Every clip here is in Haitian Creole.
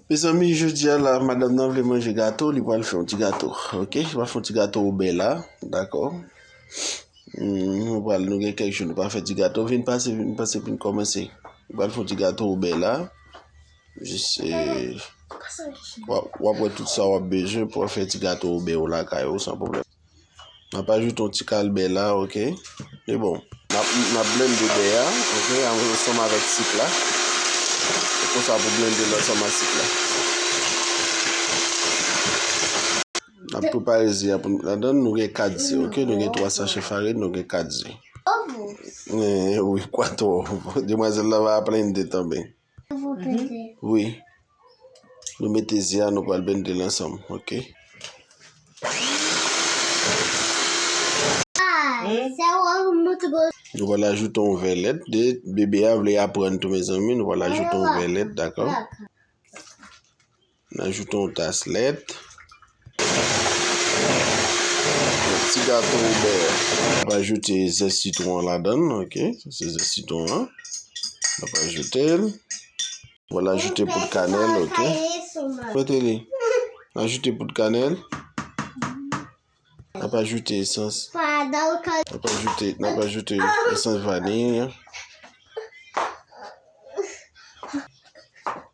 Mezanmi jodia la madam nan vle manje gato li pral fè yon ti gato ok li pral fè yon ti gato ou bè la dakò nou pral nou gen kèk jou nou pa fè ti gato vin pase vin pase pou n kòmanse li pral fè yon ti gato ou bè la jis wap wè tout sa wap bezwen pou w fè ti gato ou bè w lakay ou san pwoblèm. Nap ajoute yon ti kal bè la ok. Se bon. Nap blende bè a ok ansanm avèk sik la. Se konsa pou blende l ansanm ak sik la. Nap prepare ze a pou met ladan. Nou gen 4 ze ok. Nou gen 3 sachè farin, nou gen 4 ze. Oww! Oww! Oww! Oww! Oww! Demwazèl la va a plende tanmen. Wi Nou mete ze a nou pral bendel ansanm ok. Nou pral ajoute yon vè lèt de bebe a vle aprann tou mezanmi nou pral ajoute yon vè lèt dakò. N ajoute yon tas lèt. Yon ti gato bè. N ap ajoute zè sitwon an ladan l. Ok, sa se zè sitwon an. N ap ajoute l. Bon, n ajoute poud kanèl. Ok. Kote li? N ajoute poud kanèl. N ap ajoute esans. N ap ajoute, n ap ajoute esans vaniy.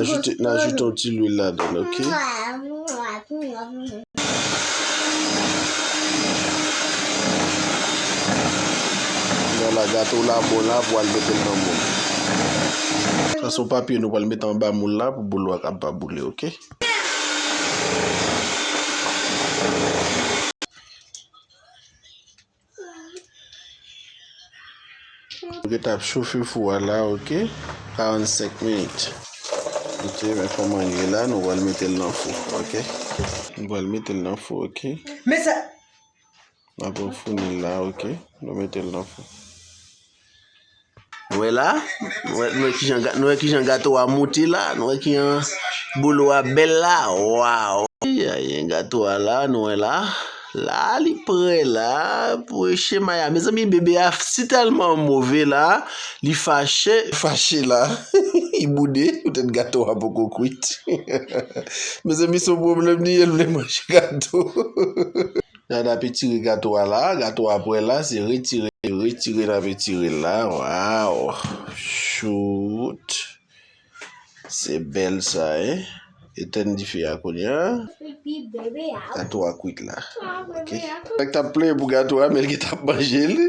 Ajoute nan ajoute yon ti lwil la dan ok. Nan la gato la bon la pou al metel nan moun. Sa son papye nou pral mete anba moun la pou bolo a kab pa boule ok. Ou geta ap chofe fou a la ok 45 minit ok men koman li ye la nou pral metel nan fou ok nou pral metel nan fou ok mesa nap refounil la ok nou metel nan fou. Nou wè la, nou wè, nou wè kijan, nou wè kijan gato a mouti la, nou wè kijan bolo a bèl la, waw. Gen gato a la, nou wè la, la li prè la pou echemay a. Mezanmi bebe a si tèlman move la, li fache, fache la, li boude, poutèt gato a poko kwit. Mezanmi son pwoblèm li ye, li vle manje gato. Dada ap etire gato a la, gato a prè la, se retire, retire nap etire l la, waw, chout, se bèl sa e, etèn dife a kounye a, gato a kwit la, ok, nèg tap plenyen pou gato a men li gentan ap manje l,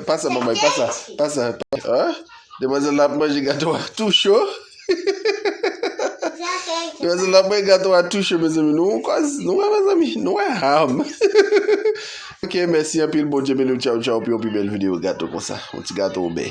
pa sa manmay, pa sa, pa sa, ah, demwazèl la ap manje gato a tou cho. Mezanmi la mwen gato a touche mezanmi nou on kòz nou wè mezanmi nou wè ham Ok mèsi anpil Bondye beniw tchawtchaw pou yon pi bèl video gato konsa yon ti gato obey.